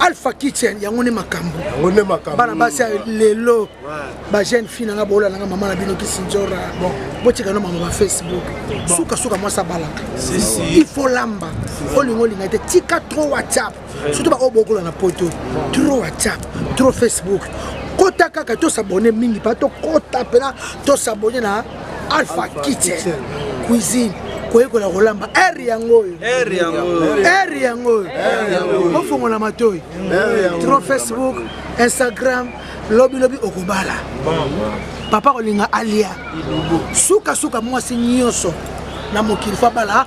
alpha kitchen yango nde makambo yango nde makambo bana basi ya lelo ba jeune fille nanga bola nanga mama na bino kisinjora botika no mama ba facebook suka suka mwasi abalaka il faut lamba olinga olinga te tika trop whatsapp surtout baoyo bokola na poto trop whatsapp trop facebook kota kaka tosabone mingi mpa tokota mpena tosabone na alpha kitchen cuisine koyekola kolamba r yango oyo r yango oyo bofongola matoi tro facebook instagram lobilobi okobala papa kolinga alia sukasuka mwasi nyonso na mokili fo abala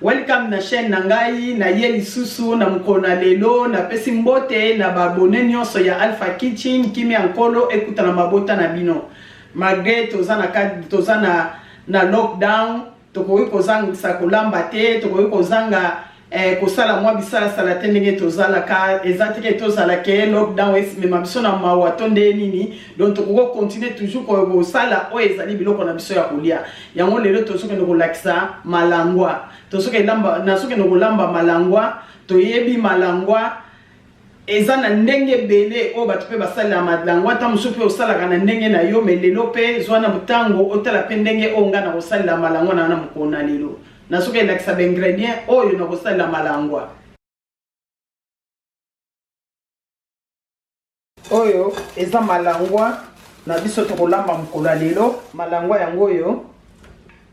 welcome na chaîne na ngai na ye lisusu na mokolo na lelo napesi mbote na babone nyonso ya alpha kitchen kimia nkolo ekutana mabota na bino malgre toza na toza na na lockdown tokoki kozangisa kolamba te tokoki kozanga eh, kosala mwa bisalasala te ndenge tozalaka eza teke tozala ke lockdown esimema biso na mawa to ndenge nini donc tokoki kocontinue toujours koyo kosala oyo ezali biloko na biso ya kolia yango lelo tozokende kolakisa malangwa nazokende kolamba malangwa toyebi malangwa Eza na ndenge ebele oyo bato mpe basalela madlango, ata mosusu mpe osalaka na ndenge na yo, me lelo mpe zwa na motango otala mpe ndenge oyo ngai nakosalela malangwa na ngai na mokolo na lelo. Nasoki elakisa ba ingredients oyo nakosalela malangwa. Oyo eza malangwa na biso tokolamba mokolo ya lelo. Malangwa yango oyo,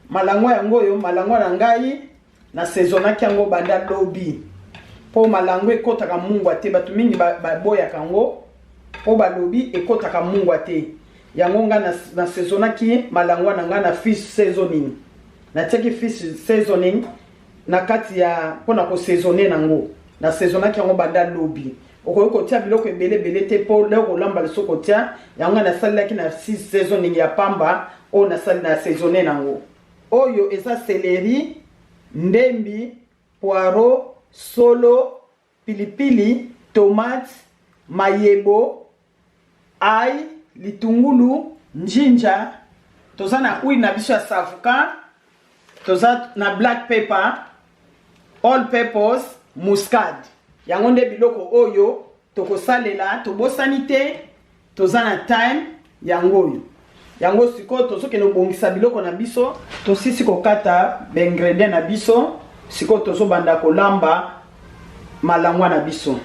malangwa yango oyo, malangwa na ngai Na saisonaki yango banda lobi mpo malango ekotaka mungwa te, bato mingi baboyaka yango mpo balobi ekotaka mungwa te. Yango nga na saisonaki malangwa na nga na fish seasoning, natiaki fish seasoning na kati ya mpo na kosaisonne nango na saisonaki yango banda lobi okoki kotia biloko ebele ebele te mpo leo kolamba lisusu kotia yango ngai nasalelaki na six saison ndenge ya pamba oyo nasali na saisonne nango Oyo eza celery, ndembi, poireau, solo, pilipili, tomate, mayebo, ail, litungulu, ginger, toza na huile na biso ya savuka, toza na black pepper, all peppers, muscade. Yango nde biloko oyo tokosalela tobosani te toza na time yango oyo yango sikoyo tozokende kobongisa biloko na biso tosisi kokata baingredient na biso sikoyo tozobanda kolamba malangwa na biso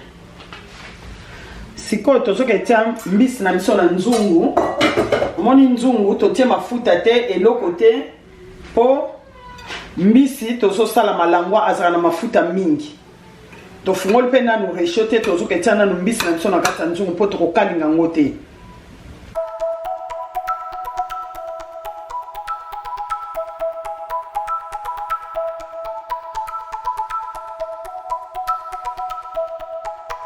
sikoyo tozoka etya mbisi na biso na nzungu omoni nzungu totie mafuta te eloko te mpo mbisi tozosala malangwa azala na mafuta mingi tofungoli mpe nanu recho te tozuka etia nanu mbisi na biso na kati ya nzungu mpo tokokalinga yango te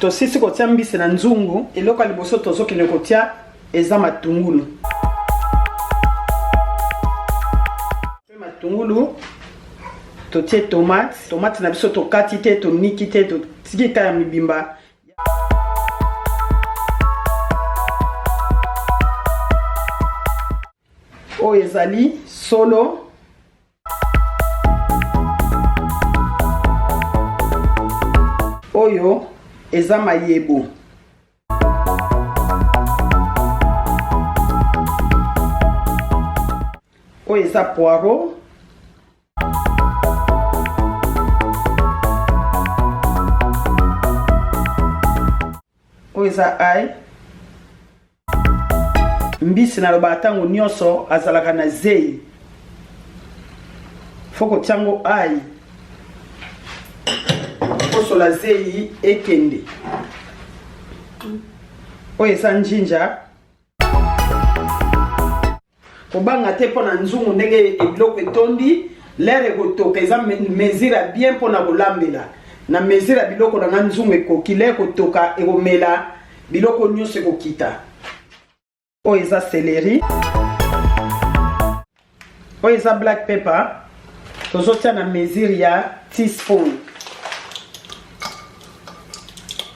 tosisi kotia mbisi na nzungu eloko ya liboso tozokende kotia eza matungulu mpe matungulu totie tomate tomate na biso tokati te toniki te totiki ka ya mibimba oyo ezali solo oyo eza mayebo oyo eza poiro oyo eza ai mbisi nalobaka ntango nyonso azalaka na zei fo kotya yango ai kosola zei ekende oyo eza njinja kobanga te mpo na nzungu ndenge biloko etondi lere ekotoka eza mesure ya bien mpo na kolambela na mesure ya biloko na ngai nzungu ekoki lere ekotoka ekomela biloko nyonso ekokita oyo eza seleri oyo eza black pepper tozotya na mesure ya teaspoon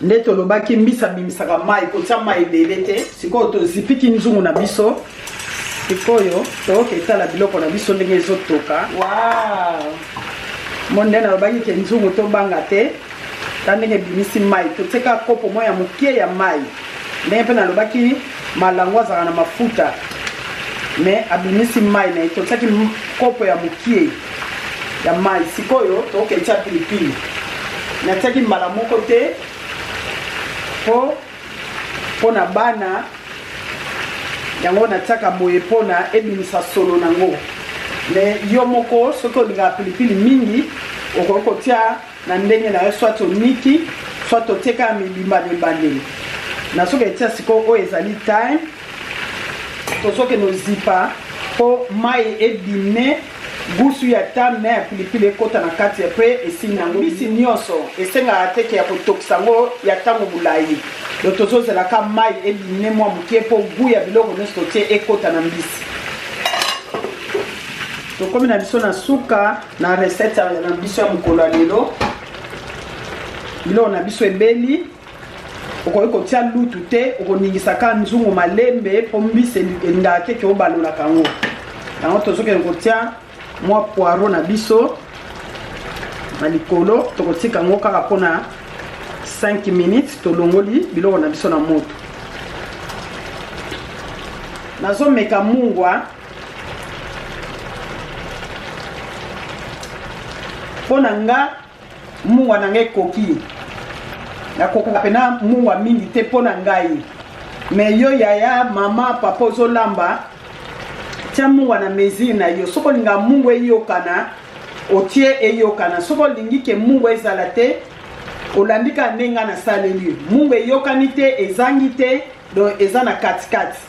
nde tolobaki mbisa abimisaka mai kotia mai ebele te sikoyo tozipiki nzungu na biso sikoyo toyoka etala biloko na biso ndenge ezotoka wow. monde nalobaki ke nzungu tobanga te ta ndenge ebimisi mai totika kopo mwa ya moke ya mai ndenge mpe nalobaki malango azalaka na mafuta me abimisi mai na ye totiaki kopo ya mokie ya mayi sikoyo tokoki kotia pilipili natiaki mbala moko te mpo mpo na bana yango natiaka boye mpo na ebimisa solo nango me yo moko soki olingaka pilipili mingi okoki kotia na ndenge na yo soit oniki soit otieka milimbalembande na soki etia sikoyo oyo ezali time tozokende ozipa mpo mai ebime Gusu ya ta mère pilipili ekota na kati après esili nango. Mbisi nionso esengaka te ke ya kotokisa yango ya tango mulayi donc tozo zela ka mayi elimne mua mukie po gout ya biloko nionso totie ekota na mbisi. Tokomi na biso na suka na recette na biso ya mukolo ya lelo. Biloko na biso ebeli. okoki kotia lutu te okoningisa ka nzungu malembe mpo mbisi elingaka keke obalolaka yango yango tozokende kotia mwa poiro na biso na likolo tokotika yango kaka mpona 5 minutes tolongoli biloko na biso na moto nazomeka mungwa mpo na nga Mungwa na ngai ekoki. Nakokaka pena mungwa mingi te mpo na ngai. Mais yo yaya, mama, papa ozolamba, tia mungwa na mesure na yo. Soki olinga mungwa eyokana, otie eyokana. Soki olingi ke mungwa ezala te, olandi kaka ndenge ngai nasaleli yo. Mungwa eyokani te, ezangi te, donc eza na katikati.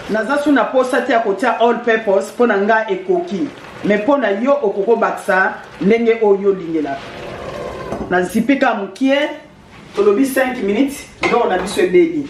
Naza su na posa te ya kotia all purpose mpo na nga ekoki mais mpo na yo okoki kobakisa ndenge oyo yo olingelaka. Na zipe ka mukie tolobi 5 minutes biloko na biso ebebi.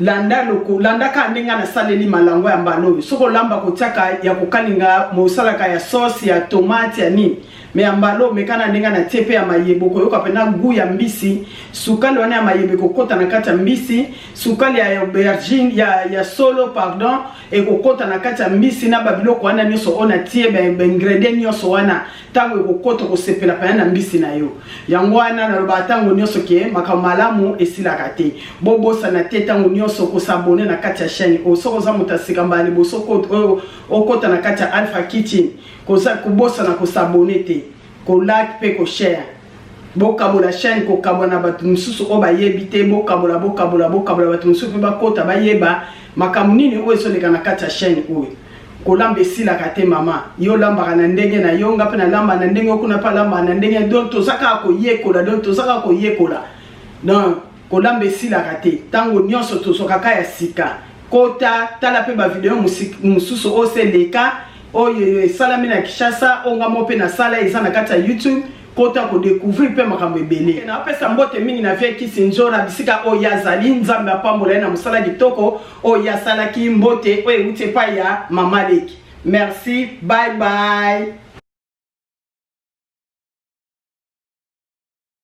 landa loko landa kaka ndenge nasaleli malango ya mbala oyo soki olamba kotiaka ya kokalinga mosalaka ya sauce ya tomate ya nini me ya mbala oyo mekana ndenge natie mpe ya mayebe okoyoka mpena gu ya mbisi sukali wana ya mayebe ekokota na kati ya mbisi sukali ya aubergine ya, ya solo pardon ekokota na kati ya mbisi na babiloko wana nyonso oyo natie baingredient nyonso wana ntango ekokota okosepela mpaya na mbisi na yo yango wana nalobaka ntango nyonso ke makambo malamu esilaka te bobosana te ntango nyonso kosabone na kati ya chaîne oyo soki oza moto ya sika mbala liboso oyo okota na kati ya alpha kitchen kobosana kosabone te kolike mpe koshare bokabola chaîne kokabola na bato mosusu oyo bayebi te bokabola bokabola bokabola bato mosusu mpe bakota bayeba makambo nini oyo ezoleka na kati ya chaîne oyo kolamba esilaka te mama yo olambaka na ndenge na yo nga mpe nalamba na ndenge okuna mpe alambaka na ndenge donc toza kaka koyekola donc toza kaka koyekola donc kolamba esilaka te ntango nyonso tozokaka ya sika kota tala mpe bavideo mosusu oyo se leka oyo esalami na kinshasa oyo nga moko mpe nasala eza na kati ya youtube kota kodecouvrir mpe makambo ebele napesa mbote mingi na vie kisi nzora bisika oyo azali nzambe apambola ye na mosala kitoko oyo asalaki mbote oyo euti epai ya mama leki merci bye bye